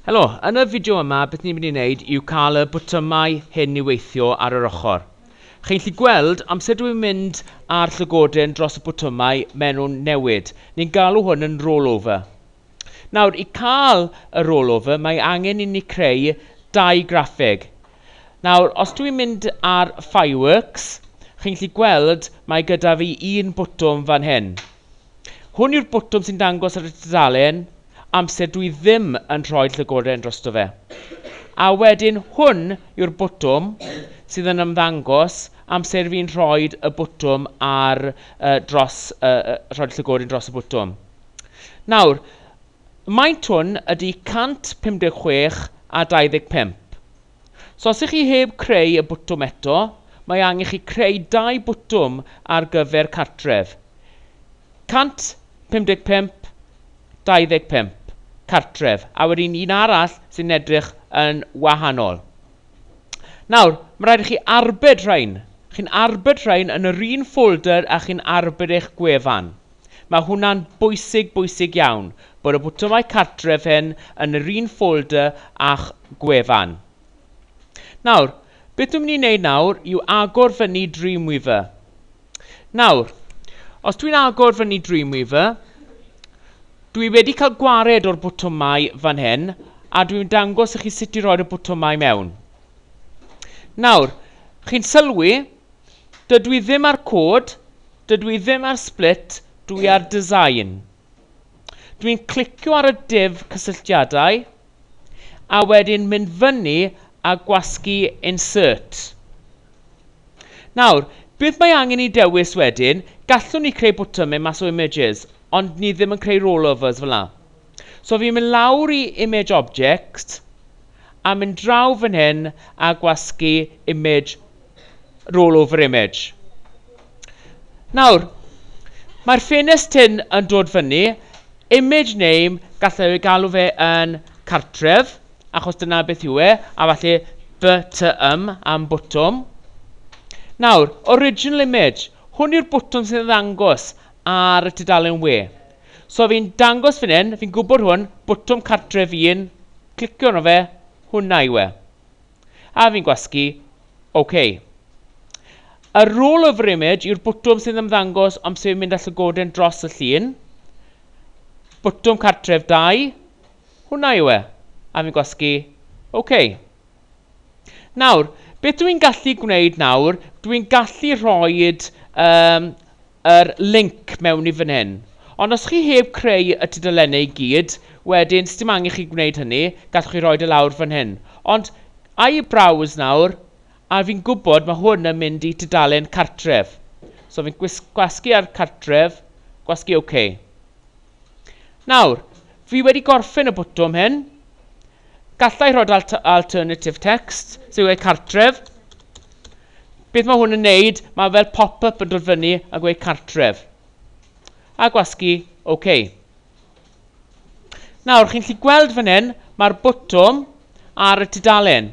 Helo, yn y fideo yma beth ni'n mynd i wneud yw cael y botymau hyn i weithio ar yr ochr. Chi'n lli gweld amser dwi'n mynd ar llygoden dros y botymau maen nhw'n newid. Ni'n galw hwn yn rollover. Nawr, i cael y rollover, mae angen i ni creu dau graffeg. Nawr, os dwi'n mynd ar Fireworks, chi'n gallu gweld mae gyda fi un botwm fan hyn. Hwn yw'r botwm sy'n dangos ar y tudalen amser dwi ddim yn rhoi llygoden drosto fe. A wedyn hwn yw'r botwm sydd yn ymddangos amser fi'n rhoi y botwm ar, uh, dros, uh, rhoi llygoden dros y botwm. Nawr, maint hwn ydy 156 a 25. So os ych chi heb creu y bwtwm eto, mae angen chi creu dau bwtwm ar gyfer cartref. 155, 25, cartref, a wedyn un arall sy'n edrych yn wahanol. Nawr, mae rhaid i chi arbed rhain. Chi'n arbed rhain yn yr un ffolder a chi'n arbed eich gwefan. Mae hwnna'n bwysig, bwysig iawn, bod y botymau cartref hyn yn yr un ffolder â'ch gwefan. Nawr, beth dwi'n mynd i wneud nawr yw agor fyny Dreamweaver. Nawr, os dwi'n agor fyny Dreamweaver, dwi wedi cael gwared o'r botymau fan hyn, a dwi'n dangos i chi sut i roi'r y botymau mewn. Nawr, chi'n sylwi, dydw i ddim â'r cod, Dydw i ddim ar Split, dw i ar Design. Dw i'n clicio ar y duv cysylltiadau, a wedyn mynd fyny a gwasgu Insert. Nawr, beth mae angen i dewis wedyn, gallwn ni creu botymau mas o images, ond ni ddim yn creu rollovers fel 'na. So fi'n mynd lawr i Image Object, a mynd draw fan hyn a gwasgu Image rollover image. Nawr, mae'r ffenest hyn yn dod fyny, image name, gallai ei galw fe yn cartref, achos dyna beth yw e, a falle BTM am bwtwm. Nawr, original image, hwn yw'r bwtwm sy'n ddangos ar y tudalen we. So fi'n dangos fan hyn, fi'n gwybod hwn, bwtwm cartref un, clicio arno fe, hwnna yw e. A fi'n gwasgu, OK. A Roll over image yw'r bwtwm sy'n ymddangos am sef mynd â llygoden dros y llun. Bwtwm cartref 2. Hwnna yw e. A fi'n gwasgu, OK. Nawr, beth dwi'n gallu gwneud nawr, dwi'n gallu rhoed um, yr linc mewn i fan hyn. Ond os chi heb creu y tudalennau i gyd, wedyn, sdim angen chi gwneud hynny, gallwch chi roid e lawr fan hyn. Ond, a i browse nawr, a fi'n gwybod ma' hwn yn mynd i tudalen cartref. So fi'n gwis- gwasgu ar cartref, gwasgu ok. Nawr, fi wedi gorffen y botwm hyn. Gallai rhoi alt alternative text, sy'n gweud cartref. Beth mae hwn yn neud? Mae fel pop-up yn dod fyny a gweud cartref. A gwasgu OK. Nawr, chi'n lli gweld fan hyn, mae'r botwm ar y tudalen.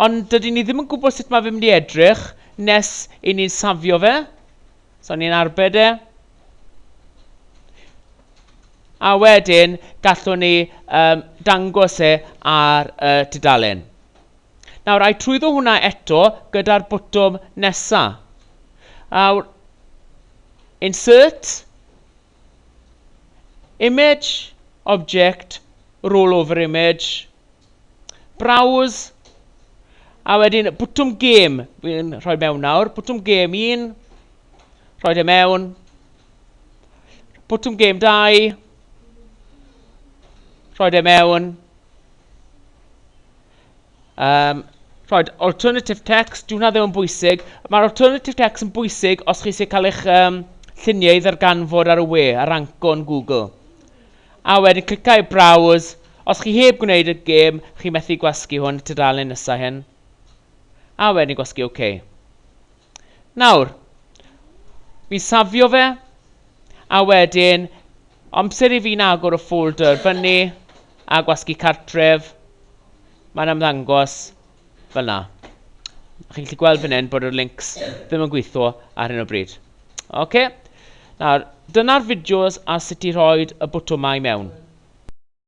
Ond dydyn ni ddim yn gwybod sut mae fe mynd i edrych nes i ni'n safio fe. So ni'n arbed e. A wedyn gallwn ni um, dangos e ar y uh, tudalen. Nawr, a'i trwyddo hwnna eto gyda'r bwtwm nesa. Nawr, insert, image, object, roll over image, Browse. A wedyn bwtwm gêm. Fi'n rhoi mewn nawr. Bwtwm gêm 1. Rhoi e mewn. Bwtwm gêm 2. Rhoi e mewn. Um, rhoi alternative text, dwi'n hwnna ddim yn bwysig. Mae'r alternative text yn bwysig os chi eisiau cael eich um, lluniau i ddarganfod ar y we, ar anco yn Google. A wedyn clica i Browse. Os chi heb gwneud y gêm, chi methu gwasgu hwn y tudalen nesa hyn. A wedyn gwasgu OK. Nawr, fi'n safio fe, a wedyn, amser i fi'n agor y ffolder fyny, a gwasgu cartref, mae'n ymddangos, fel 'na. Chi'n gallu gweld fan hyn bod yr links ddim yn gweithio ar hyn o bryd. Ok, nawr dyna'r fideos ar sut i rhoi y botwmau mewn.